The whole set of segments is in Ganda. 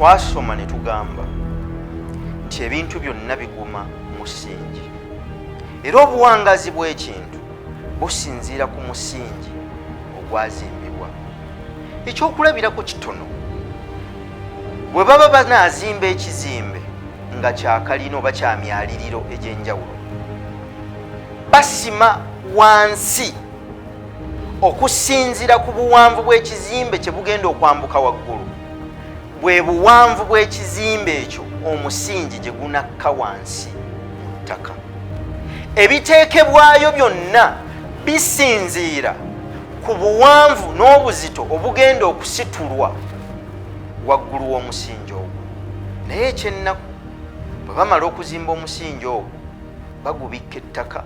twasoma ne tugamba nti ebintu byonna biguma musingi era obuwangazi bw'ekintu businziira ku musingi ogwazimbibwa ekyokulabirako kitono Bwe baba banaazimba ekizimbe nga kyakalina oba kya myaliriro egy'enjawulo, basima wansi okusinzira ku buwanvu bw'ekizimbe kye bugenda okwambuka waggulu bwe buwanvu bw'ekizimbe ekyo omusingi gye gunakka wansi mu ttaka ebiteekebwayo byonna bisinziira ku buwanvu n'obuzito obugenda okusitulwa waggulu w'omusingi ogwo naye ekyennaku bwe bamala okuzimba omusingi ogwo bagubikka ettaka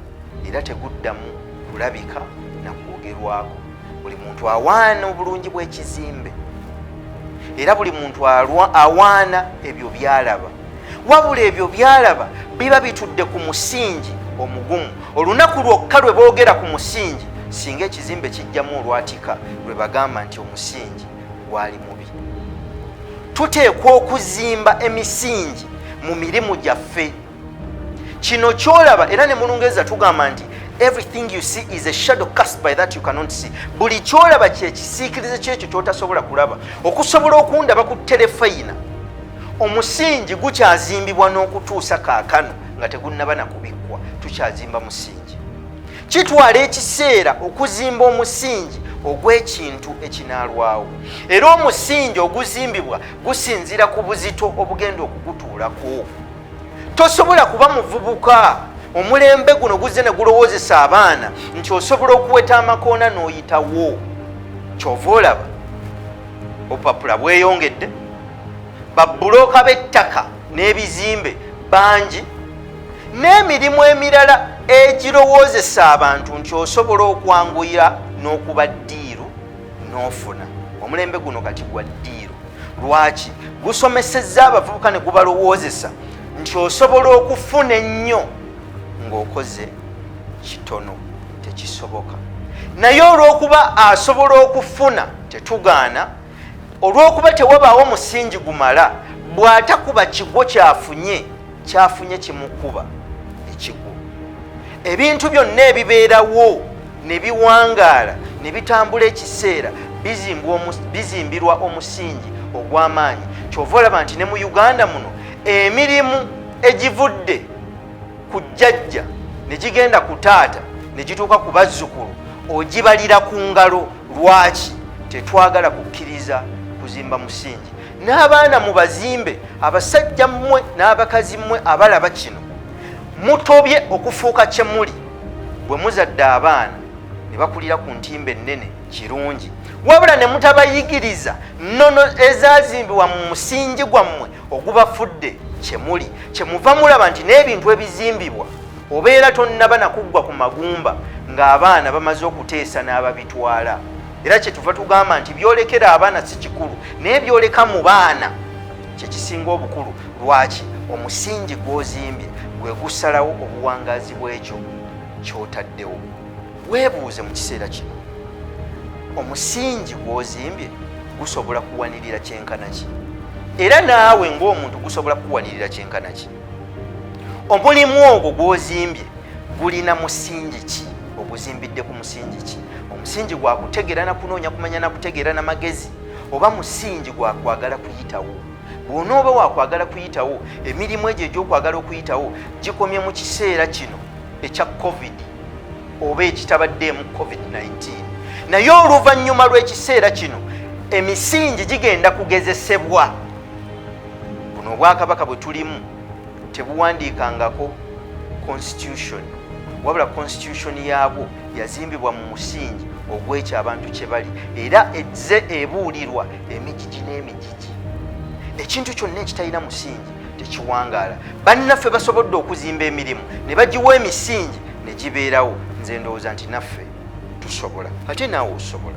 era teguddamu kulabika na kwogerwako buli muntu awaana obulungi bw'ekizimbe era buli muntu awaana ebyo byalaba wabula ebyo byalaba biba bitudde ku musingi omugumu olunaku lwokka lwe boogera ku musingi singa ekizimbe kijjamu olwatika lwe bagamba nti omusingi gwali mubi tuteekwa okuzimba emisingi mu mirimu gyaffe kino kyolaba era ne mulungereza tugamba nti everything you see is a shadow cast by that you cannot see buli kyolaba kyekisiikirize kyekyo kyotasobola kulaba okusobola okundaba ku terefayina omusingi gukyazimbibwa n'okutuusa kaakano nga tegunnaba nakubikkwa tukyazimba musingi kitwala ekiseera okuzimba omusingi ogw'ekintu ekinaalwawo era omusingi oguzimbibwa gusinziira ku buzito obugenda okugutuulako tosobola kuba muvubuka omulembe guno guzze ne gulowoozesa abaana nti osobola okuweta amakoona n'oyitawo kyova olaba obupapula bweyongedde babbulooka b'ettaka n'ebizimbe bangi n'emirimu emirala egirowoozesa abantu nti osobola okwanguyira n'okuba ddiiru n'ofuna omulembe guno kati gwa ddiiru lwaki gusomesezza abavubuka ne gubalowoozesa nti osobola okufuna ennyo ng'okoze kitono tekisoboka naye olw'okuba asobola okufuna tetugaana olw'okuba tewabaawo musingi gumala bw'atakuba kigwo kyafunye kyafunye kimukuba ekigwo ebintu byonna ebibeerawo ne biwangaala ne bitambula ekiseera bizimbirwa omusingi ogw'amaanyi kyova olaba nti ne mu uganda muno emirimu egivudde ku jjajja ne gigenda ku taata ne gituuka ku bazzukulu ogibalira ku ngalo lwaki tetwagala kukkiriza kuzimba musingi n'abaana mu bazimbe abasajja mmwe n'abakazi mmwe abalaba kino mutobye okufuuka kye muli bwe muzadde abaana ne bakulira ku ntimba ennene kirungi wabula ne mutabayigiriza nnono ezazimbibwa mu musingi gwammwe ogubafudde kyemuli kyemuva mulaba nti n'ebintu ebizimbibwa obeera tonnaba nakuggwa ku magumba ng'abaana bamaze okuteesa n'ababitwala era kyetuva tugamba nti byolekera abaana si kikulu naye byoleka mu baana kyekisinga obukulu lwaki omusingi gw'ozimbye gwe gusalawo obuwangazi bw'ekyo kyotaddewo Weebuuze mu kiseera kino omusingi gw'ozimbye gusobola kuwanirira kyenkana ki era naawe ng'omuntu gusobola kukuwanirira kyenkana ki omulimu ogwo gw'ozimbye gulina musingi ki oguzimbidde ku musingi ki omusingi gwa kutegeera na kunoonya kumanya na kutegeera na magezi oba musingi gwa kwagala kuyitawo bw'onooba wakwagala kuyitawo emirimu egyo egy'okwagala okuyitawo gikomye mu kiseera kino ekya covid oba ekitabaddeemu covid-19 naye oluvannyuma lw'ekiseera kino emisingi gigenda kugezesebwa buno obwakabaka bwe tulimu tebuwandiikangako constitution wabula constitution yaabwo yazimbibwa mu musingi ogwekyo abantu kye bali era ezze ebuulirwa emijiji n'emijiji ekintu kyonna ekitalina musingi tekiwangaala bannaffe basobodde okuzimba emirimu ne bagiwa emisingi ne gibeerawo nze ndowooza nti naffe tusobola ate naawe osobola